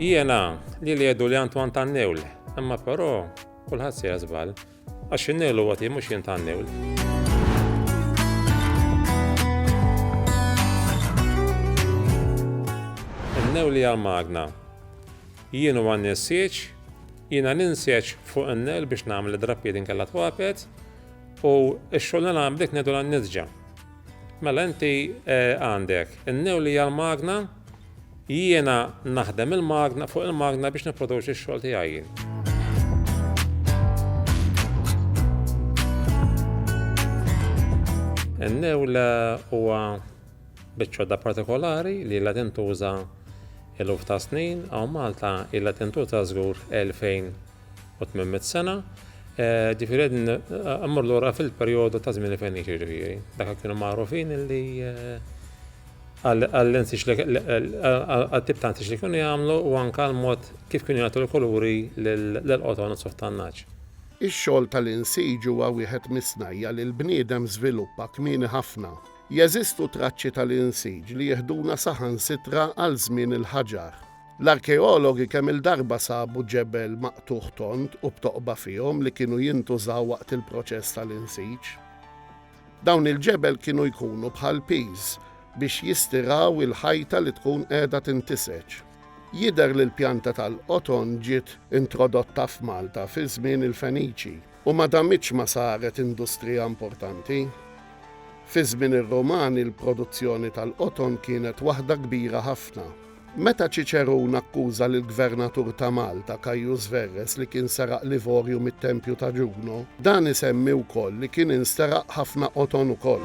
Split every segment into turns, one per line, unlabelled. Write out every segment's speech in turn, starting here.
Jiena li li jedu li Antoine tannewl, imma però kulħadd se jażbal, għax in-newlu għati mhux jien tannewl. Tennew li għal-magna. Jien u għan nessieċ, jiena ninsieċ fuq n-nel biex namel id-drappi din kalla twapet u x-xogħol nagħmel bdejt nedu għan nizġa Mela inti għandek in-newli hija l-magna, jiena naħdem il-magna fuq il-magna biex nipproduċi x-xogħol tiegħi jien. In-newla huwa biċċodda partikolari li la tintuża eluf ta' snin għaw Malta illa tintuża żgur 2000 u tmemmet sena, eh, ġifiri għedin għammur eh, l-ura fil-periodu ta' zmini feniċi ġifiri. Dak kienu marufin li eh, għall-insix għal-tip ta' insix li kienu jgħamlu u anka l-mod kif kienu jgħatu l-kuluri l-qoton u softannaċ. Ix-xogħol
tal-insij huwa wieħed mis-snajja li l-bniedem żviluppa kmieni ħafna. Jeżistu traċċi tal-insij li jiħduna saħansitra għal żmien il-ħaġar. L-arkeologi kemm-il darba sabu ġebel maqtugħ tond u b'toqba fihom li kienu jintużaw waqt il-proċess tal-insiġ. Dawn il-ġebel kienu jkunu bħal piż biex jistiraw il-ħajta li tkun qiegħda tintiseġ. Jidher li l-pjanta tal-qoton ġiet introdotta f'Malta fi żmien il-Feniċi u ma damitx ma saret industrija importanti. Fi żmien ir-Rumani l-produzzjoni tal-qoton kienet waħda kbira ħafna. Meta Ċiċerun akkuża lill-Gvernatur ta' Malta, Caius Verres, li kien seraq l-ivorju mit-tempju ta' Ġuno, dan isemmi wkoll li kien insteraq ħafna qoton ukoll.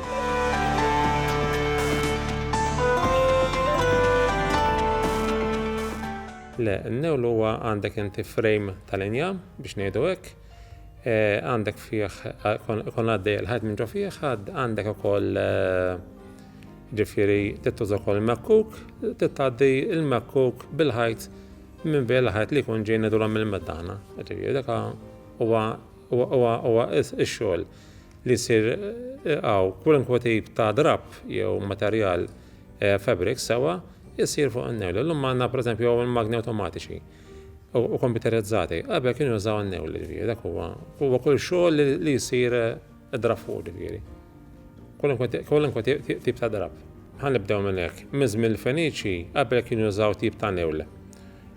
Le, n-newlu huwa għandek inti frame tal-injam, biex ngħidu hekk, Għandek fih, ikun għaddej il-ħajt minn ġo fih, għandek ukoll ġifiri tittuża ukoll mekkuk, tittaddi il-mekkuk bil-ħajt minn bejn il-ħajt li jkun ġejni durhom il-meddana. Ġifiri, daka huwa huwa ix-xogħol li jsir għaw kwalunkwe tip ta' drab jew materjal fabric sewa jsir fuq in-nerl. Illum għandna pereżempju hawn il-magni awtomatiċi. u kompjuterizzati. Qabel kienu jużaw n-newl, ġifieri, dak huwa. Huwa kull xogħol li jsir eh, drab fuq, ġifieri. Kwalunkwe tip ta' drab. Ħan nibdew minn hekk. Miżm il-Feniċi qabel kienu jużaw tip ta' newl.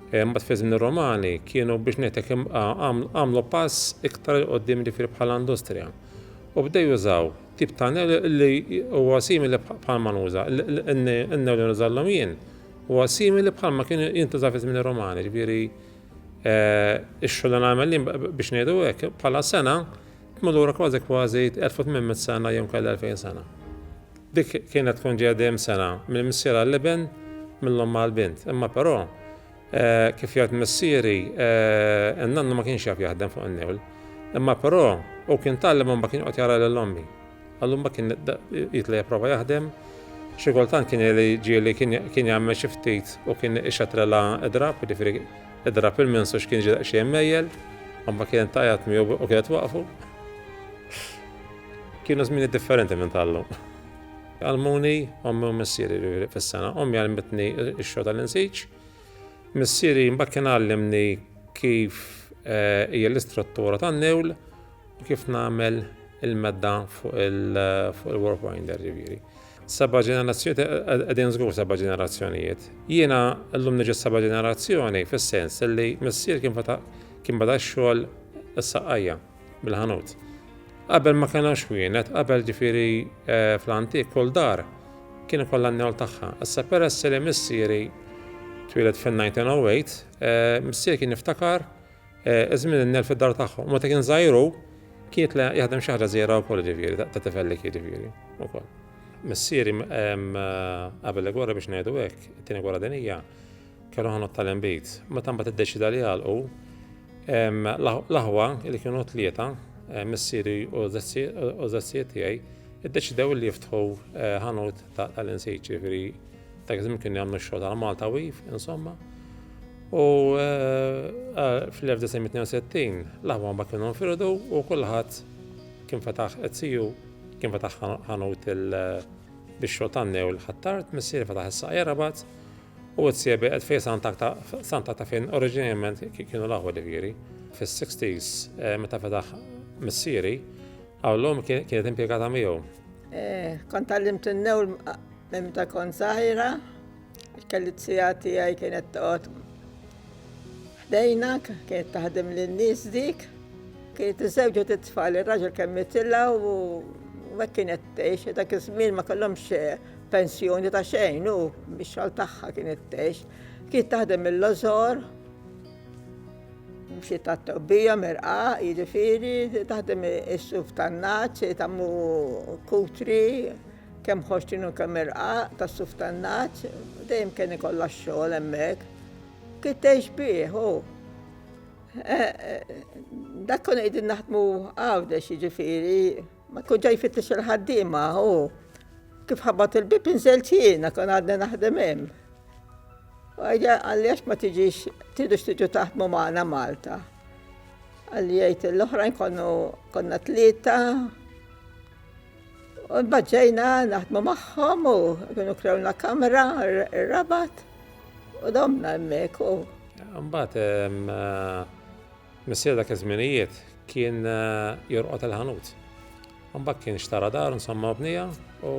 Eh, mbagħad fi żmien romani kienu biex ngħidlek għamlu pass iktar il qoddim ġifieri bħala industrija. U bdew jużaw tip ta' newl li huwa simili bħal manuża, n-newl li nużallhom jien Huwa simili bħalma kien jintuża fi żmien ir-Romani, ġifieri ix-xogħol li nagħmel jien biex ngħidu hekk bħala sena imma lura kważi kważi 1800 sena jew kellha 2000 sena. Dik kienet tkun ġejja dejjem sena mill-missier għall-iben mill-omm għall-bint, imma però kif jgħid missieri n-nannu ma kienx jaf jaħdem fuq in-newl. Imma però u kien tgħallem imma kien qed jara lil ommi. Allum ma kien jitla' jipprova jaħdem. Xi kultant kien jeli ġieli kien jagħmel xi ftit u kien ixatrela idrab, jiġifieri idrab il-mens u x'kien ġie daqsxejn mejjel, imma kienet tgħajjat miegħu u kienet waqfu. Kienu żmieni differenti minn tal-lum. Għalmuni ommi u missieri fis-sena. Ommi għalmitni x-xogħol tal-insiġ. Missieri mbagħad kien għallimni kif eh, hija l-istruttura tan-newl Kif nagħmel il-medda fuq il-workwinder ġifieri. Seba' ġenerazzjonijiet qegħdin żgur seba' ġenerazzjonijiet. Jiena llum niġi seba' ġenerazzjoni fis-sens li missier kien feta' kien beda x-xogħol is-saqajja bil-ħanut. Qabel ma kellna xwienet, qabel ġifieri eh, fl-antik kull dar kien ikollha n-newl tagħha. Issa peress li missieri twieled fin-1908, eh, missier kien jiftakar Eh, iż-żmien innel fid-dar tagħhom. Meta kien żgħiru, kienet li jaħdem xi ħaġa żgħira wkoll ġifieri, ta' tifellek ġifieri wkoll. Missieri qabel il-gwerra biex ngħidu hekk, it-tieni gwerra dinija, kellu ħanot tal-imbit. Meta mbagħad iddeċida li għalqu, l-aħwa li kienu tlieta, eh, missieri u żazzijiet tiegħi, iddeċidew li jiftħu eh, ħanut tal-insiċi, ġifieri Dak iż-żmien kienu jagħmlu x-xogħol għal Malta Wif, insomma. U eh, eh, fl-1962 l-aħwa ma kienu nfirdu u kulħadd kien fetaħ etziju, kien fetaħ ħanut il- eh, biex xogħol tannew l-ħattart, missier fetaħ is-saqja rabat u t-siebi għed fej santa ta' fejn oriġinament kienu laħwa diviri. Fis-60s, eh, meta fedaħ missieri, għallum kienet impiegata miegħu. Eh, kont
għallimt n-newl Minn meta kont żgħira, il-kelizija tiegħi kienet toqgħod ħdejna, kienet taħdem lin-nies dik, kienet iżewġet it-tfal, ir-raġel kemm mitilla u hekk kienet tgħix, dak iż-żmien ma kellhomx eh, pensjoni ta' xejn u bix-xogħol tagħha kienet tgħix. Kienet taħdem mill-lożor, mxi ta' tobbija merqa, jiġifieri taħdem is-suf tan-naċ, tammu kutri, Kemm ħożt jien u kemm irqaq tas-suf tan-nagħaġ, dejjem kien ikollha x-xogħol hemmhekk. Kif tgħix bih hu? Dak konna qegħdin naħdmu Għawdex jiġifieri, ma tkun ġej fittex il-ħaddiema hu. Kif ħabat il-bib inżelt jiena kon għadni naħdem hemm. U għajja għalli għax ma tiġix, tidux tiġu taħdmu maħna Malta. Għalli jgħajt l-oħrajn konna tlieta, Baqgħejna naħdmu magħhom u kienu krewna kamra r-rabat u domna hemmhekk u. Mbagħad
missier dak iż-żminijiet kien jorqod il-ħanut. Mbagħad kien xtara dar insomma bnija u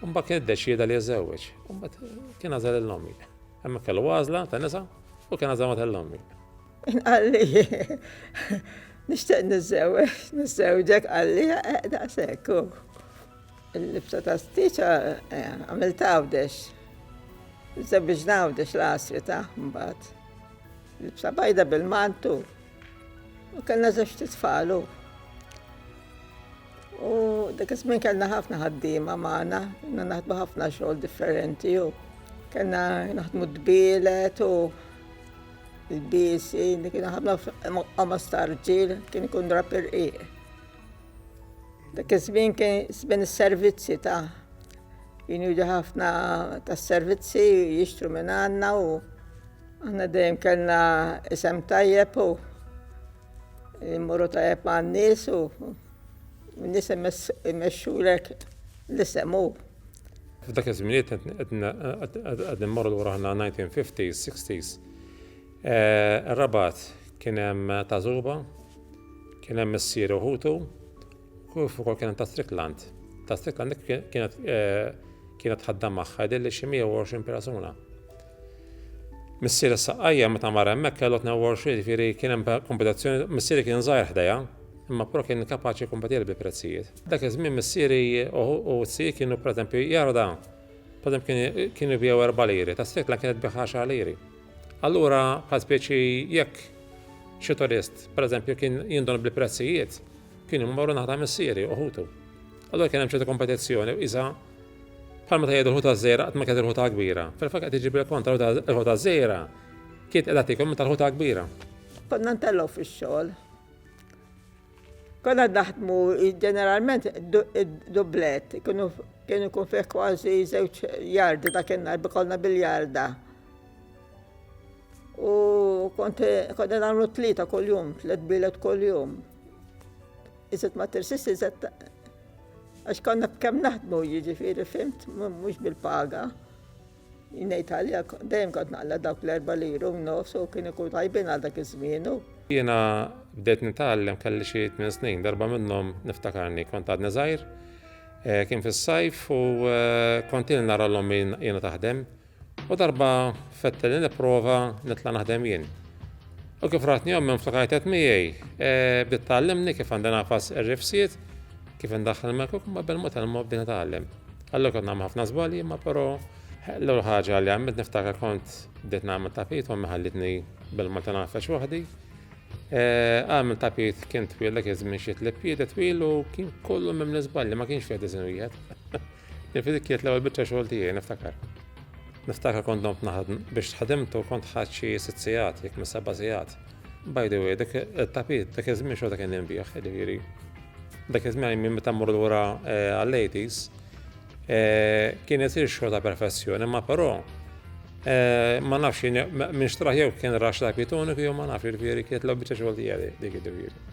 mbagħad kien iddeċieda li jeżżewweġ. Mbagħad kien għażel il-lommi. Hemmhekk kellu għażla ta' nisa u kien għażel ma' tal-lommi. Inqalli,
nixtieq niżżewweġ, niżżewġek qalli eh, daqshekk u l-libsa ta' stiċa eh, għamil tawdex. Żewġ nawdex l-asri ta' mbagħad. Libsa bajda bil-mantu. U kellna żewġ titfalu. U dak iż-żmien kellna ħafna ħaddiema magħna, kellna naħdmu ħafna xogħol differenti u kellna naħdmu dbielet u Il-biesi li kien ħafna f'qamas ta' rġiel kien ikun drapp irqiq. Dak iż-żmien kien żmien is-servizzi ta' kienu jiġu ħafna tas-servizzi jixtru minn għandna u aħna dejjem kellna isem tajjeb u immorru tajjeb ma' nies u nies imexxulek l-isem u. F'dak
iż-żminijiet qed nimmorru lura aħna 1950s, 60s. Ir-Rabat kien hemm ta' Zuba, kien hemm missier uħutu, kif ukoll kien hemm ta' Strickland. Ta' Strickland kienet kienet ħaddam magħha li xi 120 persuna. Missieri s-saqqajja meta mar hemmhekk kellu 22 jiġifieri kien hemm kompetizzjoni, missieri kien żgħir ħdejha imma però kien kapaċi jikkompetieli bil-prezzijiet. Dak iż-żmien missieri u t-sir kienu pereżempju jara dan, pereżempju kienu jbiegħu erba' liri, ta' sikwit l-għan kienet tbigħ għaxar liri. Allura bħal spiċi jekk xi turist pereżempju kien jinduna bil-prezzijiet, kienu jmorru naħa ta' missieri u ħutu. Allura kien hemm ċertu kompetizzjoni u qisha Bħalma tgħid il-ħuta ż-żgħira qatt ma kienet il-ħuta l-kbira, fil-fatt qed iġib il-kontra l-ħuta ż-żgħira kienet qiegħda tiekol minn tal-ħuta l-kbira. Konna ntelgħu
fix-xogħol. Konna naħdmu ġeneralment dublett, kienu kien ikun fih kważi żewġ jardi ta' kien narbi konna bil-jarda. U konna nagħmlu tlieta kuljum, tliet bilet kuljum. Iżet ma tirsist iżet Għax konna b'kemm naħdmu jiġifieri fimt mhux bil-paga. Ngħid għalija dejjem kont naqla dawk l-erba' liru nofs u kien ikun tajbin għal dak iż-żmienu. Jiena
bdejt nitgħallem kelli xi tmien snin, darba minnhom niftakarni kont għadni żgħir, eh, kien fis-sajf u eh, kont il nara l-ommi jiena taħdem U darba fetteli nipprova nitla' naħdem jien. U kif ratni ommi mflakajtet miegħi, e, bdiet tgħallimni kif għandi nafas ir-rifsiet, kif indaħħal mekuk ma bil mot il-mod bdiet nitgħallem. Allura kont nagħmel ħafna żbalji, ma però l-ewwel ħaġa li għamilt niftakar kont bdiet nagħmel tapit u ħallitni bil-mod nafex waħdi. E, għamil tapit kien twil dak iż-żmien xi tlieb twil u kien kollu minn żbalji ma kienx fiha diżin wieħed. Nifli dik kienet l-ewwel biċċa xogħol tiegħi, niftakar. Niftakar kont domt naħdm biex ħadimtu kont ħadd xi sitt sigħat, jekk mhux seba' sigħat. By the way, dak it-tapit dak iż-żmien xorta kien inbih, jiġifieri. Dak iż-żmien minn meta mmur lura eh, għall-80s eh, kien isir xogħol ta' perfessjoni, ma però eh, ma nafx minn xtraħ jew kien rax tapit uniku jew ma nafx jiġifieri kienet l-ewwel biċċa xogħol tiegħi dik jiġifieri.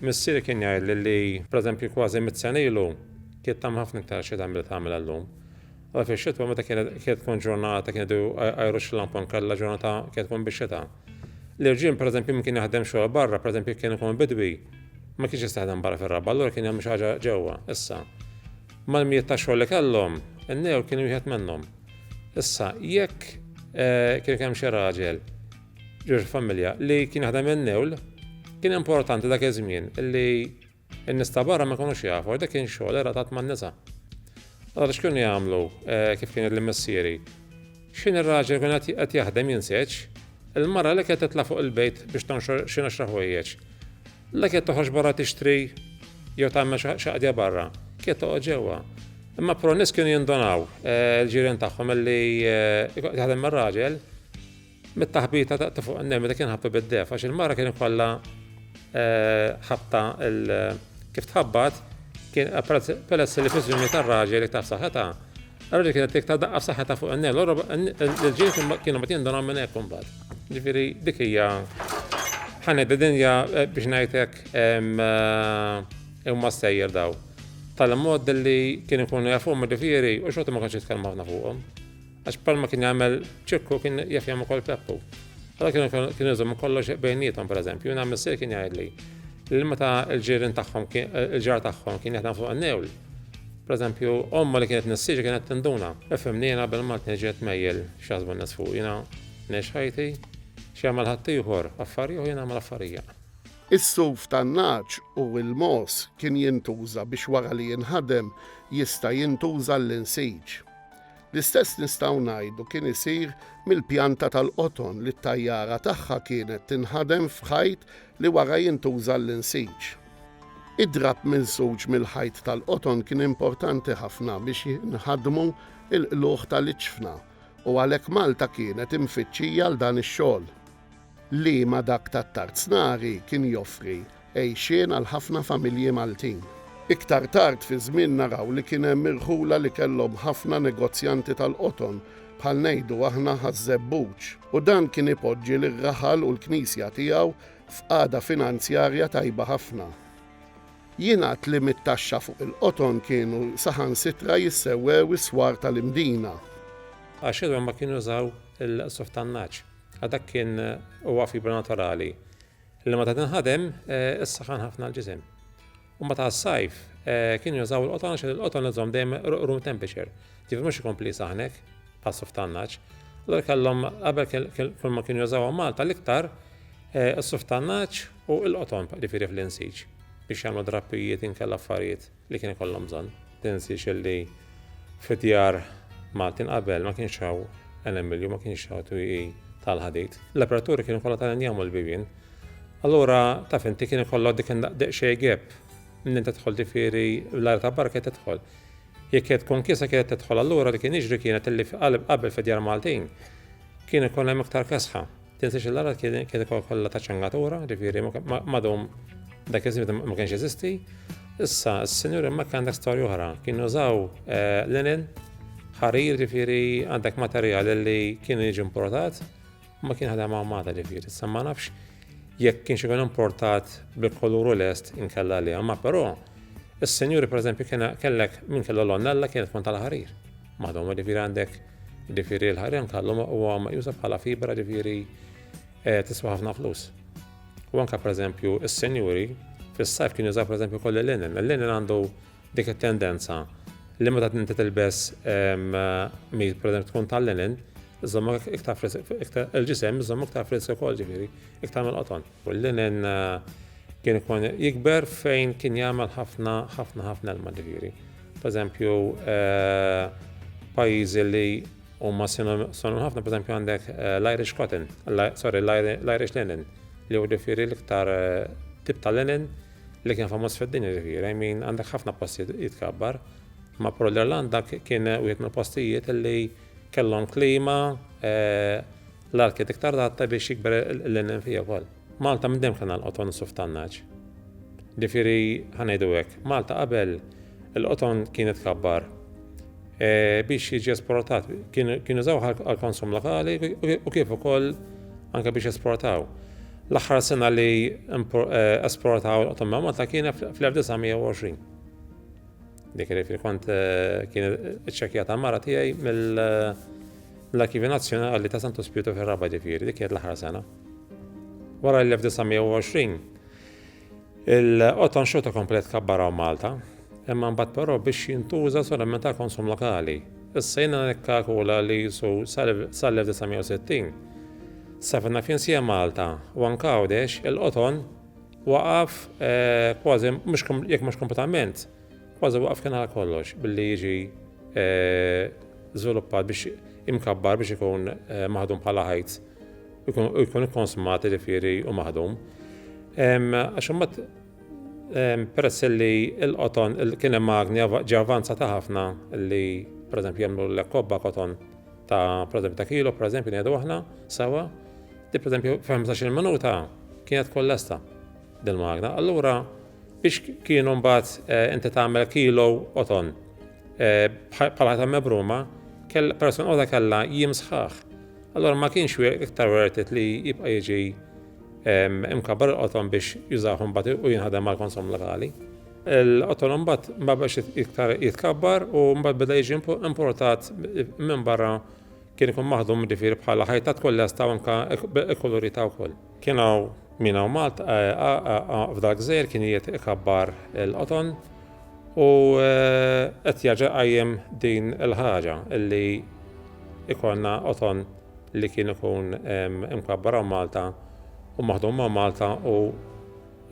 Missieri kien jgħid li, pereżempju, kważi mit-senilu Kienet tagħmel ħafna iktar xita milli tagħmilha llum. Allura fix-xitwa meta kienet tkun ġurnata kien idu jgħajrux l-lampa nkella ġurnata kienet tkun bix-xita. L-irġiel pereżempju min kien jaħdem xogħol barra, pereżempju kien ikun bidwi, ma kienx jista' jaħdem barra fir-raba, allura kien jagħmel xi ħaġa ġewwa. Issa, mal-mijiet ta' xogħol li kellhom, in-new kien wieħed minnhom. Issa, jekk eh, kien hemm xi raġel ġewx familja li kien jaħdem in-newl, kien importanti dak iż-żmien li In-nies ta' barra ma jkunux jafu għax dak kien xogħol relatat man-nisa. Allura x'kienu jagħmlu kif kien jgħidli missieri? X'ħin ir-raġel ikun qed jaħdem jinseġ, il-mara li kienet titla' fuq il-bejt biex tonxor xi għaxra ħwejjeġ, la kienet toħroġ barra tixtri jew tagħmel xi qadja barra, kienet toqgħod ġewwa. Imma però n-nies kienu jindunaw, il-ġirien tagħhom, li kieku qed jaħdem ir-raġel, Mit-taħbita daqt fuq in-nemel li kien ħabtu bid-def għax il-mara kien ikollha eh, ħabta kif tħabbat kien peress li fiżjoni tar-raġel li taf saħħetha. Raġel kienet tiktar daqqa f'saħħetha fuq in-nemel, l-ġil kienu ma tindunhom minn hekk imbagħad. Ġifieri dik hija ħanedda dinja eh, biex ngħidlek eh, imma sejjer daw. Tal-mod li kien ikunu jafu ma ġifieri u xorta ma kienx jitkellmu ħafna fuqhom. Għax bħalma kien jagħmel Ċikku kien jaf jagħmel ukoll Peppu. Allora kienu kienu jżommu kollox bejnietom pereżempju, jien għamil sir kien jgħidli li meta l-ġirin tagħhom il-ġar tagħhom kien jaħdem fuq in-newl. Pereżempju, omma li kienet nissiġi kienet tinduna. Ifhimni jiena qabel ma tniġġiet mejjel x'jaħsbu n-nies fuq jiena nex ħajti x'jagħmel ħadd ieħor affarijiet u jien nagħmel affarija. Is-suf
tan-nagħaġ u l-mogħoż kien jintuża biex wara li jinħadem jista' jintuża l-insiġ. L-istess nistgħu ngħidu kien isir mill-pjanta tal-qoton li t-tajjara tagħha kienet tinħadem f'ħajt li wara jintuża għall-insiġ. Id-drapp minsuġ mill-ħajt tal-qoton kien importanti ħafna biex jinħadmu l-qlugħ tal-iċfna u għalhekk Malta kienet imfittxija għal dan ix-xogħol. li ma' dak tat-Tarznari kien joffri għejxien għal ħafna familji Maltin. Iktar tard fiż-żmien naraw li kien hemm irħula li kellhom ħafna negozjanti tal-qoton, bħal ngħidu aħna Ħaż-Żebbuġ, u dan kien ipoġġi lir-raħal u l-knisja tiegħu f'qagħda finanzjarja tajba ħafna. Jingħad li mit-taxxa fuq il-qoton kienu saħansitra jissewwew is-swar tal-Imdina. Għax
ilhom ma kienu użaw il-qsuf tan-nagħaġ. Għax dak kien huwa fibra naturali li meta tinħadem issaħħan ħafna l-ġisem. U meta s-sajf kien jużaw il-qoton għax il-qoton iżhom dejjem room temperature, ġifieri mhux ikompli saħnek passu f'tannaġġ. Allura kellhom qabel kull ma kienu jużawhom Malta l-iktar is-suf tannaġġ u l-qoton ġifieri fl-insiġ biex jagħmlu drappijiet inkella affarijiet. li kien ikollhom bżonn. Tinsiex li fid-djar Maltin qabel ma kienx hawn enamilju, ma kienx hawn twieqi tal-ħadid. L-aperturi kienu kollha tal-injam u l-bibien. Allura taf inti kien ikollok dik daqsxejn gap minn inti tidħol ġifieri l-ajr ta' barra kien tidħol. Jekk qed tkun kisa kienet tidħol allura li kien jiġri kienet illi qabel fid-djar Maltin kien ikun hemm iktar kesħa. Din sixillara kien ikol kollha ta' ċangatura, ġifieri madhom dak iż-żmien ma kienx jeżisti. Issa, s-sinjur hemmhekk għandek storja oħra. Kienu żaw eh, linen, ħarir ġifieri għandek materjal li kien jiġi importat, ma kien ħadem għamata ġifieri. Issa ma nafx jekk kien xikun importat bil-koluru lest inkella li għamma, però s-sinjuri per eżempju kellek minn kellu l-onnella kienet tkun tal-ħarir. Madhom ġifieri għandek ġifieri l-ħarem kallu huwa meqjusa bħala fibra ġifieri eh, tiswa ħafna flus. U anka pereżempju is-senjuri fis-sajf kien jużaw pereżempju koll il-linen. Il-linen għandu dik it-tendenza li meta tinti tilbes ehm, mil pereżempju tkun tal-linen, iżomma iktar il-ġisem iżomma iktar frisk ukoll ġifieri, iktar mill-qoton. U l-linen kien ikun jikber fejn kien jagħmel ħafna ħafna ħafna ilma ġifieri. Pereżempju, pajjiżi li huma sonu ħafna, pereżempju għandek l-Irish cotton, sorry, l-Irish linen, li huwa ġifieri l-iktar tip ta' linen li kien famuż fid-dinja ġifieri, I mean għandek ħafna postijiet jitkabbar. Ma pro l-Irlanda kien wieħed mill-postijiet li kellhom klima L-art kienet iktar adatta biex jikber il-linnen fiha wkoll. Malta minn dejjem kellna l-qoton u s-suf tan-nagħaġ. Ġifieri, ħa ngħidu hekk, Malta qabel il-qoton kienet kabbar biex jiġi esportat. Kienu jużaw għall-konsum lokali u kif ukoll anke biex esportaw. L-aħħar sena li esportaw il-qoton ma' Malta kienet fl-1920. Dik li kont kien iċċekjata mara tiegħi mill- L-Arkivi Nazzjonali ta' Santu Spiritu fir-Rabat ġifieri, dik kienet l-aħħar sena. Wara l-1920, il-qoton xorta komplet kabbaraw Malta, imma mbagħad però biex jintuża solament għal konsum lokali. Issa jiena nikkakula li jisu sal-1960 safna f'Insija Malta u anke Għawdex il-qoton waqaf eh, kważi jekk mhux kompletament Kważi waqaf kien għal kollox billi jiġi żviluppat biex imkabbar biex ikun maħdum bħala ħajt u jkun ikkonsumat ġifieri u maħdum. Għax imbagħad peress li l-qoton kien hemm magni ġi avanzata ħafna li pereżempju jagħmlu l-kobba koton ta' pereżempju ta' kilo pereżempju ngħidu aħna sawa di pereżempju f'15 minuta kienet kollesta din magna. Allura Biex kienu mbagħad inti tagħmel kilo qoton bħal ħadd mebruma, persuna waħda kellha jiem sħaħ. Allora ma kienx iktar wertet li jibqa' jiġi imkabbar il-qoton biex jużaħum bat u jinħadem mal konsum lokali. Il-qoton mbagħad ma biex iktar jitkabbar u mbagħad beda jiġi importat minn barra kien ikun maħdum ġifieri bħala ħajtat kollha staw anka ikkulurita wkoll. Kien hawn min hawn Malta f'dar gżejjer kien qiegħed ikabbar il-qoton u qed jerġa' jqajjem din il-ħaġa li jkollna qoton li kien ikun imkabbar hawn Malta u maħdum hawn Malta u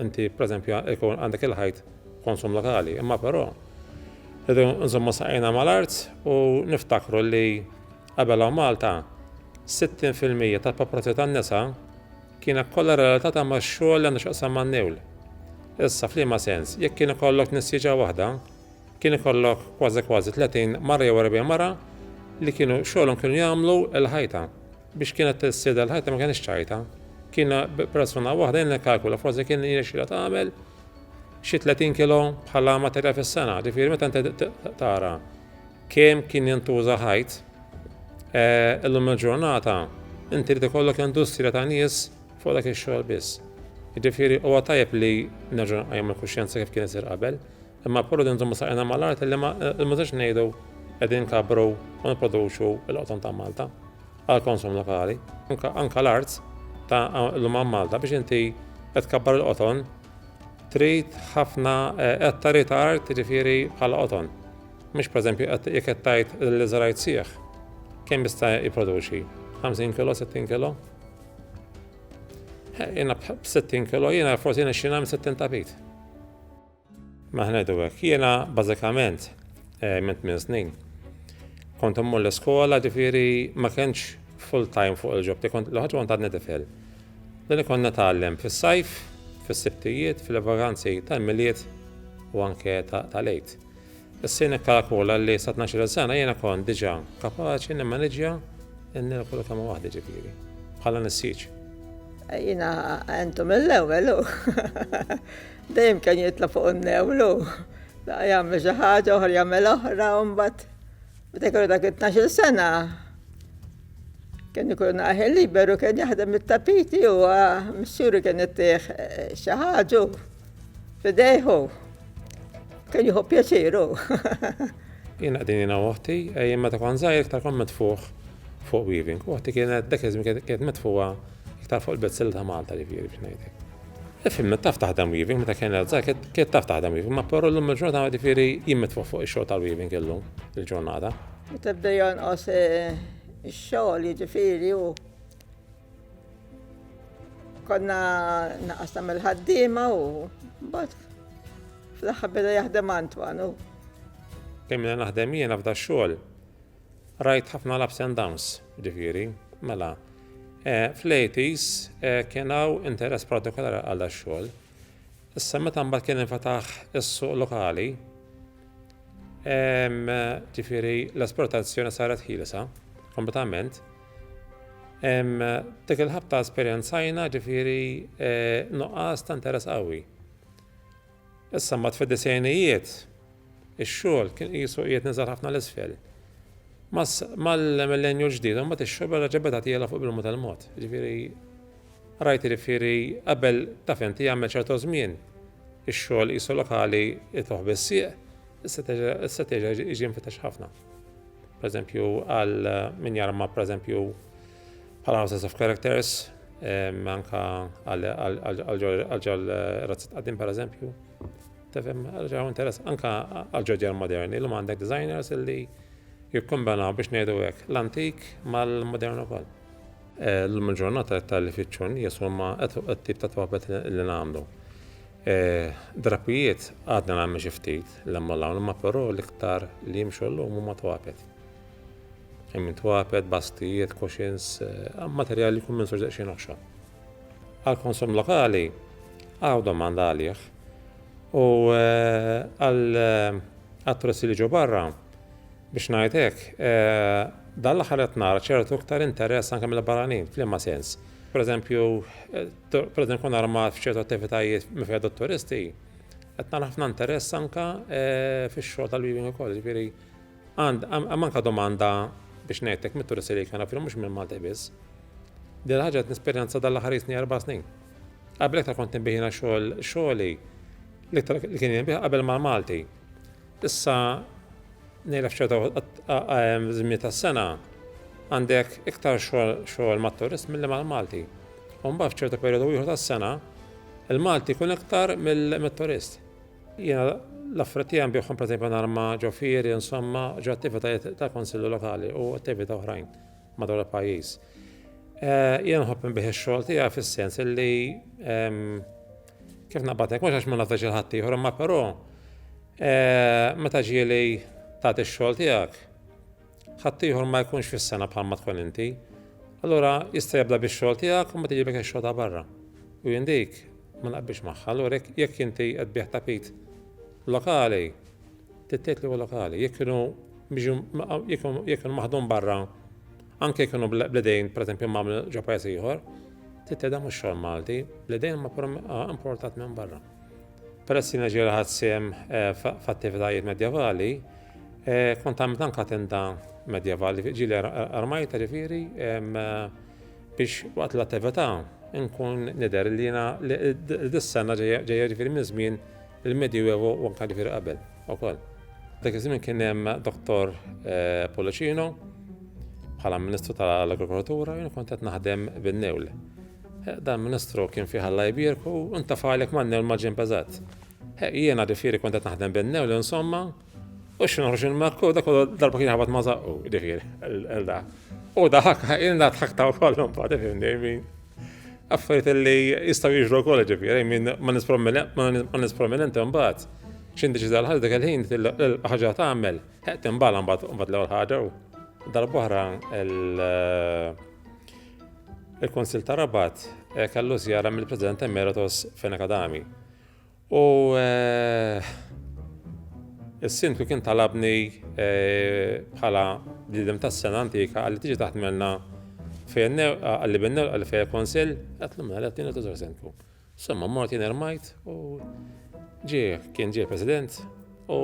inti pereżempju jkun għandek il-ħajt konsum lokali. Imma però rridu nżommu saqajna mal-art u niftakru li Qabel hawn Malta, 60 fil-mija tal-paparazzi tan-nisa kienet kollha relatata max-xogħol li għandu x'jaqsam man-niwl. Issa f'liema sens, jekk kien ikollok nisieġa waħda, kien ikollok kważi kważi 30 mara jew 40 mara li kienu xogħolhom kienu jagħmlu l-ħajta. Biex kienet tissida l-ħajta ma kienx ċajta. Kien persuna waħda jien nikkalkula forsi kien jirnexxilha tagħmel xi 30 kilo bħala materjal fis-sena, ġifieri meta inti tara Kemm kien jintuża ħajt? Illum il-ġurnata inti trid ikollok industrija ta' nies fuq dak ix-xogħol biss. Jiġifieri huwa tajjeb li nerġgħu nqajmu l-kuxjenza kif kien isir qabel, imma puru din nżommu saqajna mal-art li ma nbżgħux ngħidu qegħdin kabru u nipproduċu l-qoton ta' Malta għal konsum lokali. Anka l-art ta' l-lum Malta biex inti qed kabbar il-qoton trid ħafna eh, qed ta' ritard jiġifieri bħala qoton. Mhux pereżempju qed jekk qed tgħid li żrajt sieħ. Kemm jista' jipproduċi? 50 kilo, 60 kilo? Eh, jiena b'60 kilo, jiena forsi nixxina minn 60 tapit. Maħnedu hekk, jiena bażikament eh, minn tmien snin. Kont immur l-iskola ġifieri ma kienx full time fuq il-ġob, kont l-ħaġa kont għadni tifel. Dan ikun nitgħallem fis-sajf, fis-sibtijiet, fil-vaganzi tal-Milied u anke tal-Għid. Issir nikkalakula li sa tnax-il sena jiena kont diġà kapaċi nimmaniġġja n-Nirkulu kemm waħdi ġifieri, bħala nissieġ. Jiena
għentu mill-ewwel hu. Dejjem kien jitla' fuq in-newl hu. Laqgħa jagħmel xi ħaġa, oħra jagħmel oħra u mbagħad meta jkollu dak it-tnax-il sena, Kien ikun aħel liberu kien jaħdem it-tapiti u missuri kien ittieħ eh, xi ħaġu f'idejħu. Kien jieħu pjaċiru.
Jien qegħdin jiena oħti, eh, jien meta kon żgħir iktar kon mitfuħ fuq weaving. Oħti kienet dak iż kienet mitfuha iktar fuq il-bezzil ta' Malta ġifieri biex ngħidlek. Ifimna taf taħdem weaving meta kien żgħir kienet taf taħdem weaving, ma però llum il-ġurnata ġifieri jien mitfuħ fuq ix-xogħol tal-weaving illum il-ġurnata. Meta bda
jonqos ix-xogħol jiġifieri u konna naqas nagħmel ħaddiema u mbagħad fl-aħħar beda jaħdem Antwan u. Kemmina
naħdem jiena f'da xogħol. Rajt ħafna l-ups and downs, ġifieri, mela. Fl-80s kien hawn interess partikolari għal xogħol Issa meta mbagħad kien infetaħ is-suq lokali, ġifieri l-esportazzjoni saret ħielsa kompletament, dik il-ħabta esperjenzajna ġifieri e, nuqqas ta' interess qawwi. Issa mbagħad fid-disejnijiet ix-xogħol kien qisu qiegħed niżel ħafna l isfel. Mal-millenju ġdid, mbagħad ix-xogħol reġa' beda tiela fuq bil-mod tal-mod. Ġifieri Rajt irifieri qabel taf inti jagħmel ċerto żmien ix-xogħol qisu lokali jitluh bis-sieq issa teġa' issa teġa' jiġi mfittex ħafna. Pereżempju għal min jarma pereżempju bħala houses of characters anka għal ġol razzat qaddim pereżempju. Tefhem ġew interess anka għal ġodjar moderni l għandek designers illi jikkombinaw biex ngħidu hekk l-antik mal-modern ukoll. Eh, l-lum il-ġurnata iktar li fitxu nies huma t-tip ta' twabet li nagħmlu. Eh, drapijiet għadna nagħmel xi ftit l-hemm l-hawn, imma però l-iktar li jimxu llum huma twabet. Hemm twabet, bastijiet, cushions, eh, materjali jkun minn soġġaq xi noħxa. Għal-konsum lokali għaw domanda għalih u għal-attressi li ġo barra Biex ngħid hekk, dan l-aħħar qed nara ċertu iktar interess anke mill-barranin, f'liema sens? Pereżempju, pereżempju nkun armat f'ċertu attivitajiet minn fejn turisti, qed nara ħafna interess anke fix-xogħol tal-weaving ukoll, jiġifieri hemm anke domanda biex ngħidlek mit-turisti li jkun hawn, mhux minn Malti biss. Din il-ħaġa qed nesperjenza dan l-aħħar jisni erba' snin. Qabel iktar kont inbih xogħol xogħli li kien jinbih qabel mal-Malti. Issa ngħidlek f'ċerta żmien tas-sena għandek iktar xogħol mat-turist milli mal-Malti. U mbagħad f'ċerta perjodu ieħor tas-sena il-Malti jkun iktar mill-turist. Jiena l-affarijiet tiegħi nbihom pereżempju nhar ma' ġo fieri, insomma, ġo attivitajiet ta' konsillu lokali u attività oħrajn. madwar il-pajjiż. Jien nħobb inbih ix-xogħol tiegħi fis-sens li kif naqbadek mhux għax ma nafdax il-ħadd ieħor, imma però meta ġieli tagħti x-xogħol tiegħek ħadd ieħor ma jkunx fis-sena bħalma tkun inti. Allura jista' jibda bix-xogħol tiegħek u ma tiġibek ix-xogħol ta' barra. U jien dik ma naqbilx magħha, allura jekk inti qed bih tapit lokali, Titqiet l-ewwel lokali, jekk kienu biex jekk kienu maħdum barra, anke jekk kienu bl-idejn pereżempju magħmlu ġo pajjiż ieħor, titqiet dan mhux xogħol Malti, bl-idejn ma pura importat minn barra. Peress jiena ġieli ħadd sehem f'attivitajiet medjevali, kont għamilt anke tenda medjevali, ġieli armajta ġifieri biex waqt l-attività nkun nidher li jiena dis-sena ġejja ġifieri minn żmien Il-Medjuevo u anke ġifieri qabel ukoll. Dak iż-żmien kien hemm Dottor eh, Policino bħala Ministru tal-Agrikoltura jien kont qed naħdem bin-newl. Eh, dan Ministru kien fih Alla jbierku u ntafalek man-newl ma' ġimp eżatt. Eh, jiena ġifieri kont qed naħdem bin-newl insomma U xi noħroġ il-makku, dak darba kien ħabat ma' zaqqu, ġifieri, l-da. U daħak, il-da tħaktaw kollhom pa' tifhimni, affarijiet li jistgħu jiġru wkoll ġifieri, minn ma' nis prominenti mbagħad. X'in diġi dal-ħaġa dak il-ħin l-ħaġa tagħmel, ħeqt imbagħad mbagħad l-ewwel ħaġa u darba oħra il-Kunsill ta' Rabat kellu żjara mill-President Emeritus Fenech Adami. U s-Sindku kien talabni bħala bniedem tas-sena antika għalli tiġi taħdmelna fejn għalli bin nerqa li fejn konsil, għatlu mela għalli għatni tużar Sindku. Somma mort jien ermajt u ġie kien ġie President U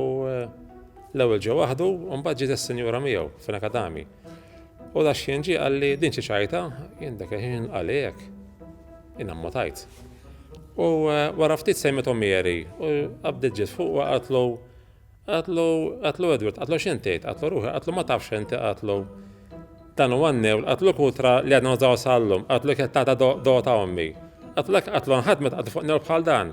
l-ewwel ġie waħdu u mbagħad ġiet is-sinjura miegħu fina kadami. U da xien ġie qalli din xi ċajta, jien dak ħin qalli hekk. Jien ammutajt. U eh, wara ftit sejmetu Mary u qabdet ġiet fuq u qatlu qatlu qatlu Edward, qatlu x'in tgħid, qatlu ruħi, qatlu ma tafx inti qatlu. Dan huwa n-newl, qatlu kutra li għadna nżaw sallum, qatlu kettata dota ommi. Qatlu qatlu nħadmet qatlu fuq newl bħal dan.